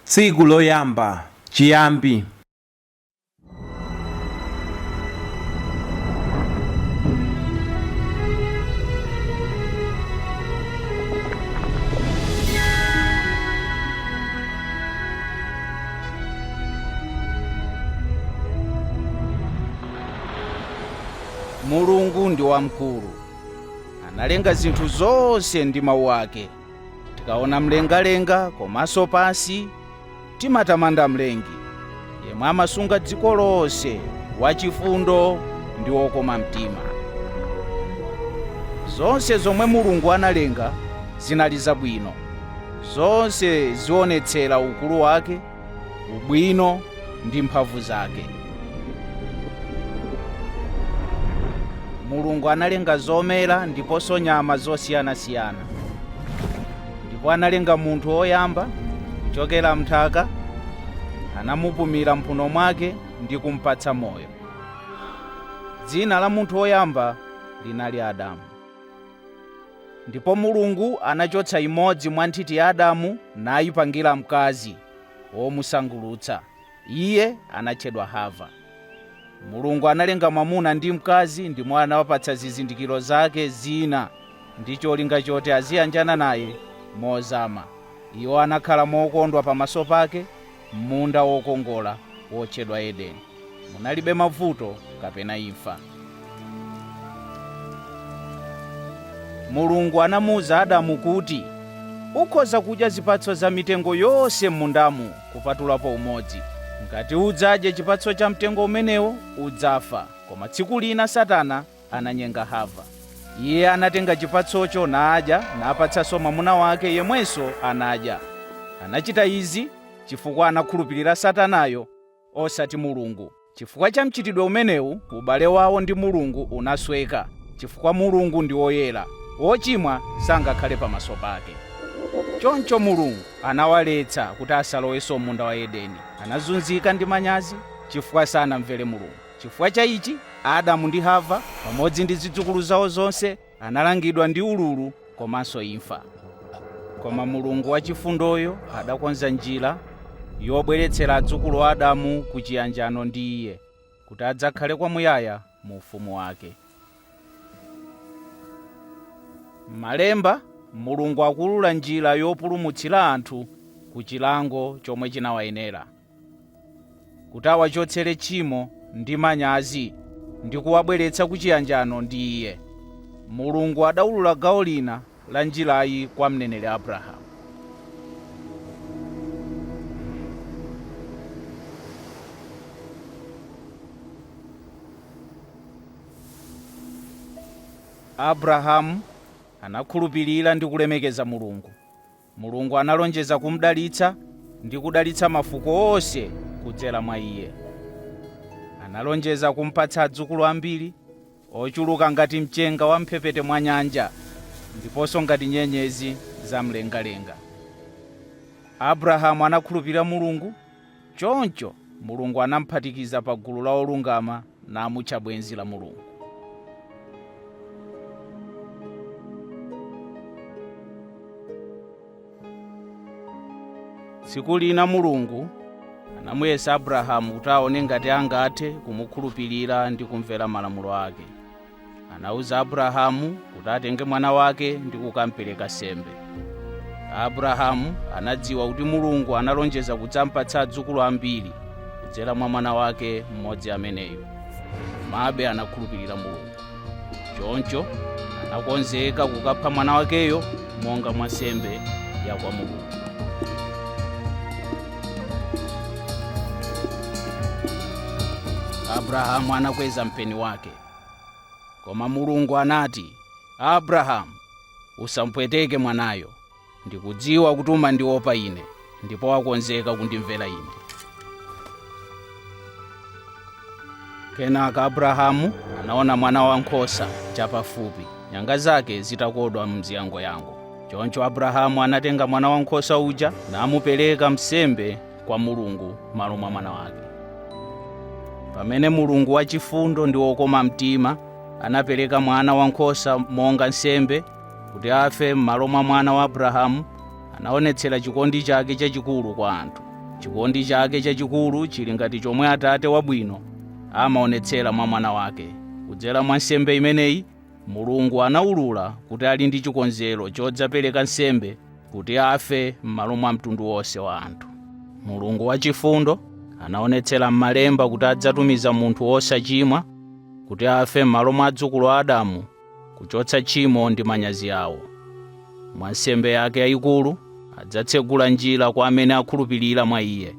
tsiku loyamba chiyambi mulungu ndi wamkulu analenga zinthu zonse ndi mawu ake. Tikaona mlengalenga komanso pansi, timatamanda Mlengi, yemwe amasunga dziko lonse, wachifundo ndi wokoma mtima. Zonse zomwe Mulungu analenga zinali zabwino. Zonse zionetsera ukulu wake ubwino ndi mphamvu zake. Mulungu analenga zomera ndiponso nyama zosiyanasiyana, ndipo analenga munthu woyamba kuchokera m'nthaka, anamupumira mphuno mwake ndi kumpatsa moyo. Dzina la munthu woyamba linali Adamu. Ndipo Mulungu anachotsa imodzi mwa nthiti ya Adamu nayipangira mkazi womusangulutsa. Iye anatchedwa Hava. Mulungu analenga mwamuna ndi mkazi ndimo anawapatsa zizindikiro zake zina ndi cholinga choti aziyanjana naye mozama. Iwo anakhala mokondwa pamaso pake M'munda wokongola wotchedwa Edeni munalibe mavuto kapena imfa. Mulungu anamuuza Adamu kuti, Ukhoza kudya zipatso za mitengo yonse m'mundamu kupatulapo umodzi. Ngati udzadye chipatso cha mtengo umenewo, udzafa. Koma tsiku lina Satana ananyenga Hava. Iye anatenga chipatsocho nadya napatsanso mwamuna wake yemwenso anadya. Anachita izi chifukwa anakhulupirira Satanayo osati Mulungu. Chifukwa cha mchitidwe umenewu, ubale wawo ndi Mulungu unasweka chifukwa Mulungu ndi woyera, wochimwa sangakhale pamaso pake. Choncho Mulungu anawaletsa kuti asalowenso m'munda wa Edeni. Anazunzika ndi manyazi chifukwa sanamvere Mulungu. Chifukwa cha ichi, Adamu ndi Hava pamodzi ndi zidzukulu zawo zonse analangidwa ndi ululu komanso imfa. Koma Mulungu wachifundoyo adakonza njira yobweretsera adzukulu a Adamu ku chiyanjano ndi Iye, kuti adzakhale kwamuyaya mu Ufumu Wake. M'Malemba, Mulungu akuulula njira yopulumutsira anthu ku chilango chomwe chinawayenera. kuti awachotsere tchimo ndi manyazi ndi kuwabweretsa ku chiyanjano ndi Iye, Mulungu adaulula gawo lina la njirayi kwa mneneri Abrahamu. Abrahamu anakhulupirira ndi kulemekeza Mulungu, Mulungu analonjeza kumudalitsa ndi kudalitsa mafuko onse kudzera mwa iye. Analonjeza kumpatsa adzukulu ambiri, ochuluka ngati mchenga wa m'mphepete mwa nyanja ndiponso ngati nyenyezi za mlengalenga. Abrahamu anakhulupirira Mulungu Choncho, Mulungu anamuphatikiza pa gulu la olungama namutcha bwenzi la Mulungu. Tsiku lina Mulungu anamuyesa Abrahamu kuti aone ngati angathe kumukhulupirira ndi kumvera malamulo ake. anauza abrahamu kuti atenge mwana wake ndi kukampereka nsembe abrahamu anadziwa kuti mulungu analonjeza kudzampatsa adzukulu ambiri kudzera mwa mwana wake mmodzi ameneyo komabe anakhulupirira mulungu choncho anakonzeka kukapha mwana wakeyo monga mwa nsembe ya kwa mulungu abrahamu anakweza mpeni wake koma mulungu anati abrahamu usampweteke mwanayo ndikudziwa kuti umandiopa ine ndipo wakonzeka kundimvera ine kenaka abrahamu anaona mwana wa nkhosa chapafupi nyanga zake zitakodwa m'ziyangoyango choncho abrahamu anatenga mwana wa nkhosa uja namupereka nsembe kwa Mulungu m'malo mwa mwana wake. Pamene Mulungu wachifundo ndi wokoma mtima anapereka mwana wankhosa monga nsembe kuti afe m'malo mwa mwana wa Abrahamu, anaonetsera chikondi chake chachikulu kwa anthu. Chikondi chake chachikulu chili ngati chomwe atate wabwino amaonetsera mwa mwana wake. Kudzera mwa nsembe imeneyi, Mulungu anaulula kuti ali ndi chikonzero chodzapereka nsembe kuti afe m'malo mwa mtundu wonse wa anthu. Mulungu wachifundo anaonetsera m'Malemba kuti adzatumiza munthu wosachimwa kuti afe m'malo mwa adzukulu a Adamu kuchotsa tchimo ndi manyazi awo. Mwa nsembe yake yayikulu, adzatsegula njira kwa amene akhulupirira mwa iye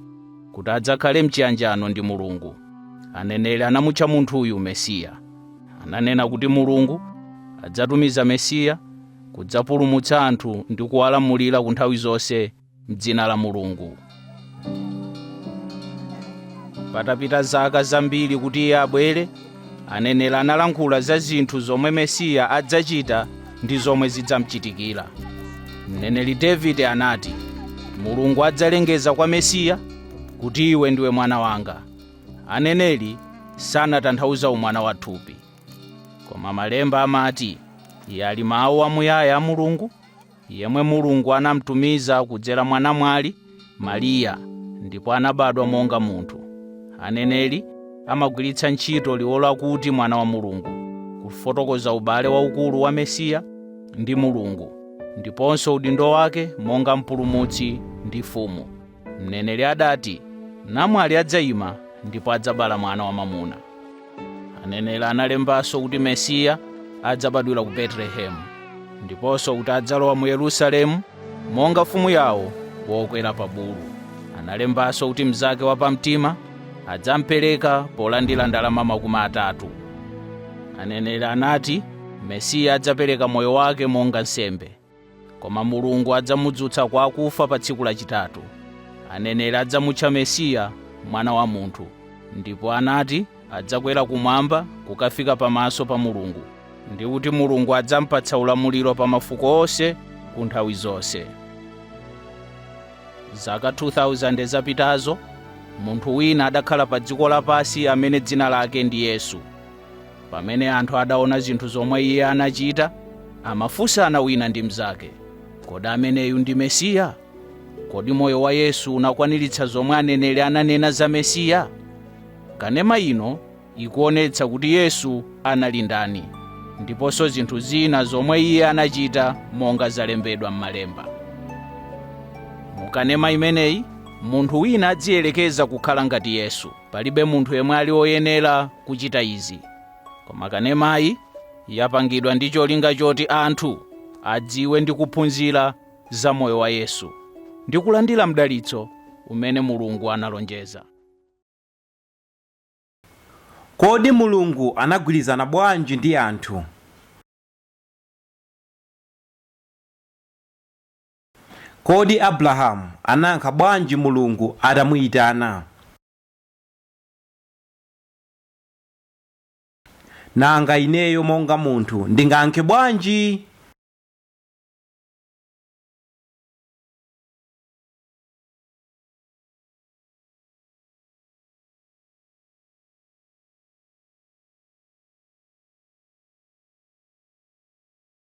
kuti adzakhale m'chiyanjano ndi Mulungu. Aneneri anamutcha munthuyu Mesiya. Ananena kuti Mulungu adzatumiza Mesiya kudzapulumutsa anthu ndi kuwalamulira ku nthawi zonse m'dzina la Mulungu. Patapita zaka zambiri kuti iye abwere, aneneri analankhula za zinthu zomwe Mesiya adzachita ndi zomwe zidzamchitikira. Mneneri Davide anati, Mulungu adzalengeza kwa Mesiya kuti iwe ndiwe mwana wanga. Aneneri sanatanthauza umwana wa thupi, koma Malemba amati iye ali Mawu amuyaya a Mulungu, yemwe Mulungu anamtumiza kudzera mwa namwali Mariya ndipo anabadwa monga munthu. Aneneri amagwiritsa ntchito liwu lakuti Mwana wa Mulungu kufotokoza ubale waukulu wa Mesiya ndi Mulungu ndiponso udindo wake monga Mpulumutsi ndi Mfumu. Mneneri adati, Namwali adzaima ndipo adzabala mwana wamwamuna. Aneneri analembanso kuti Mesiya adzabadwira ku Betelehemu ndiponso kuti adzalowa mu Yerusalemu monga mfumu yawo wokwera pa bulu. Analembanso kuti mnzake wapamtima adzampereka polandira ndalama makumi atatu. Aneneri anati Mesiya adzapereka moyo wake monga nsembe. koma mulungu adzamudzutsa kwa akufa pa tsiku lachitatu aneneri adzamutcha mesiya mwana wa munthu ndipo anati adzakwera kumwamba kukafika pamaso pa mulungu ndi kuti mulungu adzampatsa ulamuliro pa mafuko onse ku nthawi zonse zaka 2000 zapitazo munthu wina adakhala pa dziko lapansi amene dzina lake ndi yesu pamene anthu adaona zinthu zomwe iye anachita amafunsana wina ndi mnzake kodi ameneyu ndi mesiya kodi moyo wa yesu unakwaniritsa zomwe aneneri ananena za mesiya kanema ino ikuonetsa kuti yesu anali ndani ndiponso zinthu zina zomwe iye anachita monga zalembedwa m'malemba mukanema imeneyi munthu wina adziyerekeza kukhala ngati yesu palibe munthu yemwe ali woyenera kuchita izi koma kanemayi yapangidwa ndi cholinga choti anthu adziwe ndi kuphunzira za moyo wa yesu ndi kulandira mdalitso umene mulungu analonjeza Kodi Mulungu anagwirizana bwanji ndi anthu? Kodi Abulahamu anayankha bwanji Mulungu atamuitana? Nanga ineyo monga munthu ndingayankhe bwanji?